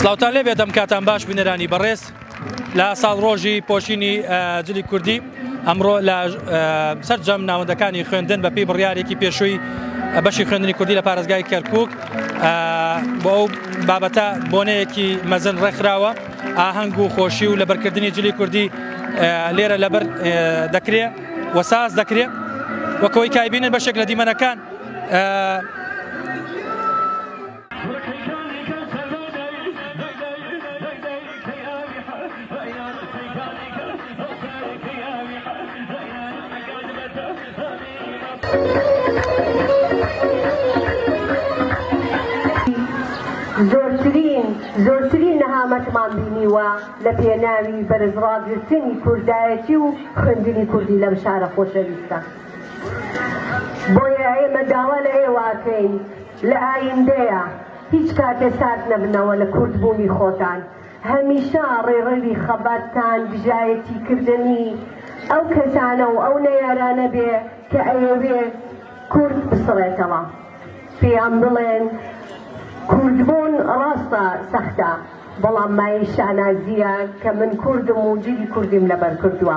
سلااوان لێ بێتم کاتان باش بینەرانی بەڕێز لە ساڵ ڕۆژی پۆشینی جلی کوردی ئەمڕۆ لە سەررجەم ناوەندەکانی خوێندن بەپی بڕیارێکی پێشووی بەشی خوێندنی کوردی لە پارێزگای کەرکک بۆ ئەو بابەتە بۆنەیەکی مەزن ڕێکخراوە ئاهەنگ و خۆشی و لەبەرکردنی جلی کوردی لێرە لەبەر دەکرێ وەساز دەکرێ وەکەوەی کایبینە بەشێک لە دیمەنەکان زۆرترین نەهامەتمان بینیوە لە پێناوی بەرزڕاگرتنی کوردایەتی و خوێندنی کوردی لەم شارە خۆشەویستە بۆیە ئێمە داوا لە ئێوە ئەکەین لە ئایندەیا هیچ کاتێ سارد نەبنەوە لە کورد بوونی خۆتان هەمیشە ڕێڕەوی خەباتتان دژایەتی کردنی ئەو کەسانە و ئەو نەیارانە بێ کە ئەیەوێ کورد بسڕێتەوە پێیان بڵێن کورد بوون ڕاستە سەختە بەڵام مایەی شانازیە کە من کوردم و جلی کوردیم لەبەر کردووە.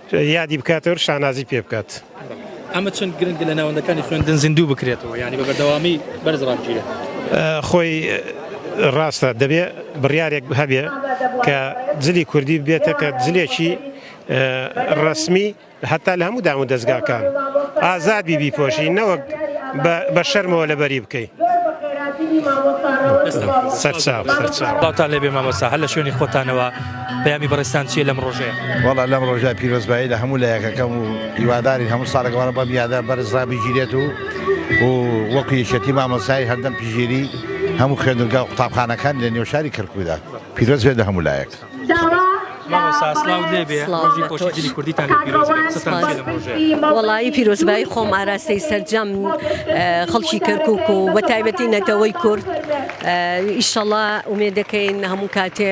یادی بکاتەوەر شانازی پێ بکات. ئەمە چەند گرنگە لە ناوەندەکانی خوێندن زیندوو بکرێتەوە یانی بە بەردەوامی بەرز ڕابگیرێت خۆی ڕاستە دەبێ بڕارێک هەبێ کە جلی کوردی بێتە کە جلێکی ڕسمی هەتا لە هەموو دام و دەستگاکان ئازاد بی بیپۆشی نەوەک بە شەرمەوە لەبەری بکەیت. سەرچاو سەرچاو. باوتان لێبێ مامۆستا هەر لە شوێنی خۆتانەوە پەیامی بەڕێستان چیە لەم ڕۆژەیە وڵا لەم ڕۆژە پیرۆزبایی لە هەموو لایەکەکەم و هیواداری هەموو ساڵێکوارە بەم یادە بەرزرا بگیرێت و و وەکو یەکەتی مامۆسایی هەردەم پیژێری هەموو خوێندگا و قوتابخانەکان لە نێو شاری کەرکوودا پیرۆز بێت لە هەموو لایەک. وەڵی پیرۆزبایی خۆم ئاراستەی سەررجەم خەڵکی کەرکک و بە تایبەتی نەتەوەی کورد ئیشەڵا ئومێ دەکەین هەموو کاتێ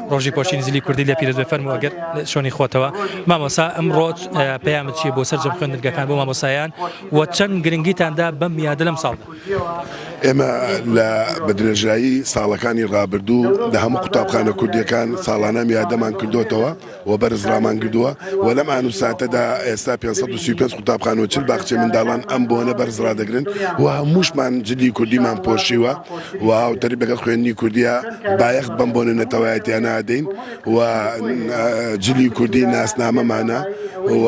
ڕۆژی پۆشینی زلی کوردی لێ پیرۆز بێ فەرموو ئەگەر شۆنی خۆتەوە مامۆسا ئەمڕۆ پەیامت چیە بۆ سەرجەم خوێندنگەکان بۆ مامۆسایان و چەند گرنگیتاندا بەم یادە لەم ساڵدا ئێمە لە بە درێژایی ساڵەکانی ڕابردوو لە هەموو قوتابخانە کوردیەکان ساڵانە یادەمان کردوتەوە و بەرز ڕامانگردووە و لەم ئان و ساتەدا ئێستا 535 قوتابخان و چل باخچەی منداڵان ئەم بۆنە بەرز ڕادەگرن و هەمووشمان جلی کوردیمان پۆشیوە و هاوتەریب لەگەڵ خوێندنی کوردیە بایەخ بەم بۆنە نەتەوایەتیە نادەین و جلی کوردی ناسنامەمانە و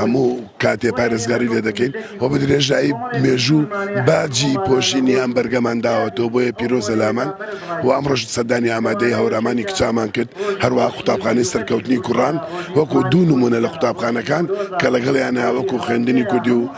هەموو کاتێ پارێزگاری لێ دەکەین و بە درێژایی مێژوو باجی پۆشینی ئەم بەرگەمان داوەتەوە بۆیە پیرۆزە لامان و ئەم ڕۆژ سەردانی ئامادەی هەورامان ئەرمانی کچامان کرد هەروە قوتابخانەی سەرکەوتنی کوڕان وەکو دوو نمونە لە قوتابخانەکان کە لەگەڵیانە وەکو خوێندنی کوردی و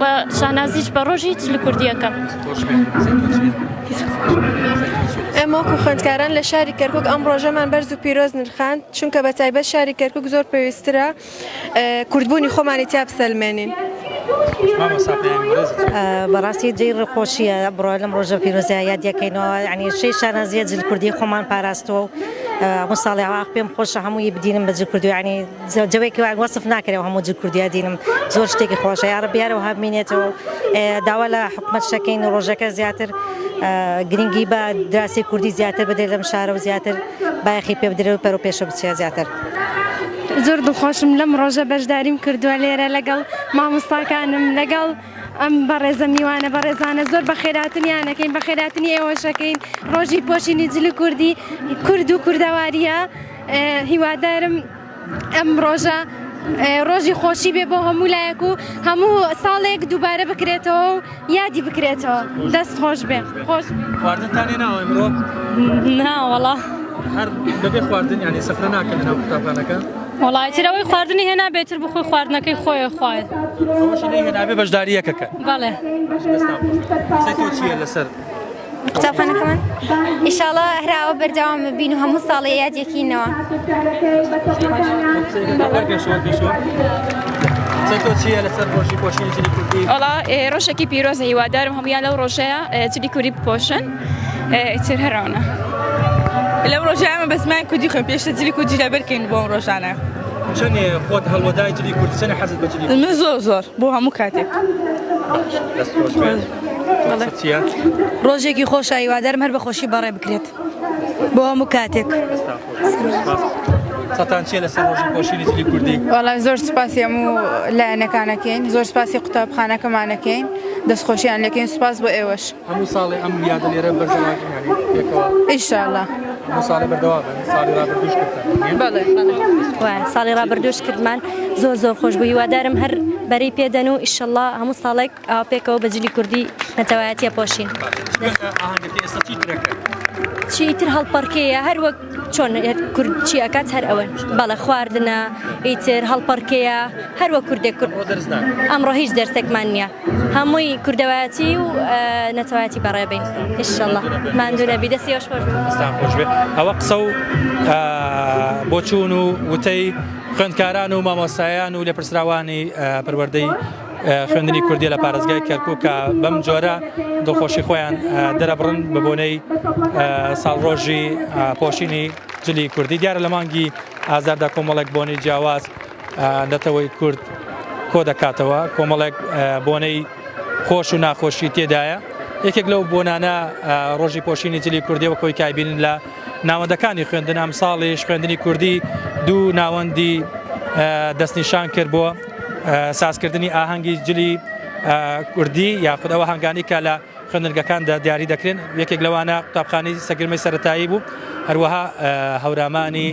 بە شانازیش بە ڕۆژی چل کوردیەکە. ئێمە وەکو خوێندکاران لە شاری کەرکک ئەم ڕۆژەمان بەرز و پیرۆز نرخاند چونکە بە تایبەت شاری کەرکک زۆر پێویسترە کوردبوونی خۆمانی تیا بسەلمێنین. بەڕاستی جێی ڕێخۆشیە بڕۆ لەم ڕۆژە پیرۆزیا یادەکەینەوە ینی شەی شانازیە جل کوردی خۆمان پاراستەوە و ئەمە ساڵیاواخ پێم خۆشە هەمووی بدینم بەجل کوردویانی. جەوێکی وایە وەسف ناکرێ هەموو جل کوردیا دینم زۆر شتێکی خۆشە یاڕەبی هەرەوە هەبمینێتەوە داوا لە حکومەت شەکەین و ڕۆژەکە زیاتر گرنگی بە دراسی کوردی زیاتر بدرێت لەم شارە و زیاتر بایەخی پێ بدرێت و پەرۆ پێشە بچێ زیاتر. زۆر دڵخۆشم لەم ڕۆژە بەشداریم کردووە لێرە لەگەڵ مامۆستاکانم لەگەڵ ئەم بەڕێزە میوانە بەڕێزانە زۆر بە خێراتنیانەکەین بە خێراتنی ئێوەشەکەین ڕۆژی پۆشینی جلی کوردی کورد و کوردەواریە هیوادارم ئەم ڕۆژە ڕۆژی خۆشی بێ بۆ هەموو لایەک و هەموو ساڵێک دووبارە بکرێتەوە و یادی بکرێتەوە دەست خۆش بێ خۆش خواردنتانێ ناوە ئەمڕۆ ناوەڵا هەر بەبێ خواردن یانی سەفرە ناکەن لەناو قوتابخانەکە وڵای ترەوەی خواردنی هێنا بێتر بخۆی خواردنەکەی خۆی خوارد هێنابێ بەشداریەکەکە بەڵێ لەسەر قوتابخانەکەمان ئیشاڵا هەراوە بەرداوام بین و هەموو ساڵێ یادێکینەوە ئەڵا ڕۆژێکی پیرۆزە هیوادارم هەمویان لەو ڕۆژەیە چلی کوری بپۆشن ئیتر هەراونە لەو ڕۆژانە بەزمان کوردی خۆم پێشتە جلی کوردی لە بەرکەین بۆم ڕۆژانە چەند خۆت هەڵوەدای جلی کوردسەنە حەزت بە من زۆر زۆر بۆ هەموو کاتێک. ڕۆژێکی خۆشە هیوادارم هەر بە خۆشی بەڕێ بکرێت بۆ هەموو کاتێک سەتان چێ لەسەر ڕۆژی خۆشیری جلی کوردی وەڵام زۆر سپاسی هەموو لایەنەکانەکەین زۆر سپاسی قوتابخانەکەمانەکەین دەستخۆشیان لەکەین سپاس بۆ ئێوەش هەموو ساڵی ئەم یادە لێرە بەرزەوەئیشاءله ساڵی بەردەوا ساڵی ڕابردوش کردن ساڵی ڕابردوش کردمان زۆر زۆر خۆش بوو هیوادارم هەر بەری پێدەن و ئیشەله هەموو ساڵێک ئاوا پێکەوە بە جلی کوردی نەتەوایەتی ئەپۆشین. باشە ئاهەنگەکەی ئێستا چیتر ئەکەن؟ چی ئیتر هەڵپەڕکێیە هەر وەک چۆن کورد چی ئەکات هەر ئەوەن بەڵێ خواردنە ئیتر هەڵپەڕکێیە هەر وەک کوردێک کورد. ئەمڕۆ دەرس ناکەن. ئەمڕۆ هیچ دەرسێکمان نییە هەمووی کوردەوایەتی و نەتەوایەتی بەڕێ بین ان شاء اللە. ماندوو نەبی دەست ئێوەش خۆش بێت. دەستان خۆش بێت. ئەوە قسە و بۆچوون و وتەی خوێندکاران و مامۆستایان و لێپرسراوانی پەروەردەی خوێندنی کوردیە لە پارێزگای کەرکوک کە بەم جۆرە دڵخۆشی خۆیان دەرەبڕن بە بۆنەی ساڵڕۆژی پۆشینی جلی کوردی دیارە لە مانگی ئازاردا کۆمەڵێک بۆنەی جیاواز نەتەوەی کورد کۆ دەکاتەوە کۆمەڵێک بۆنەی خۆش و ناخۆشی تێدایە یەکێک لەو بۆنانە ڕۆژی پۆشینی جلی کوردیەوە کۆی کایبین لە ناوەندەکانی خوێندن ئەم ساڵیش خوێندنی کوردی دوو ناوەندی دەستنیشان کرد بۆ سازکردنی ئاهەنگی جلی کوردی یاخود ئەو هەنگانی کە لە خوێندنگەکاندا دیاری دەکرێن یەکێک لەوانە قوتابخانی سەگرمەی سەتایی بوو هەروەها هەورامانی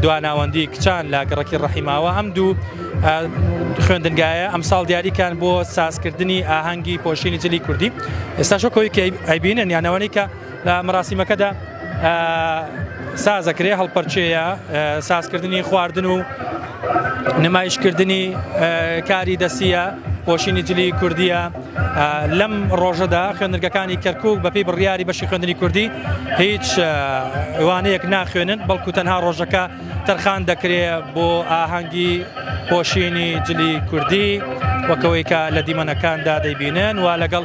دواناوەندی کچان لە گەڕکی ڕەحیماوە ئەم دوو خوێندنگایە ئەم ساڵ دیاریکان بۆ سازکردنی ئاهەنگی پۆشینی جلی کوردی ئێستا شکۆی کە ئەیبینن یانەوەی کە لە مەراسیمەکەدا سازەکرێ هەڵپەرچەیە سازکردنی خواردن و نمایشکردنی کاری دەسیە پۆشینی جلی کوردیە لەم ڕۆژەدا خوێنرگەکانی کەرکک بەپی بڕیاری بەشی خوێندنی کوردی هیچ وانەیەک ناخوێنن بەڵکو تەنها ڕۆژەکە تەرخان دەکرێ بۆ ئاهەنگی پۆشینی جلی کوردی وەکەوەی کە لە دیمەنەکاندا دەیبینن و لەگەڵ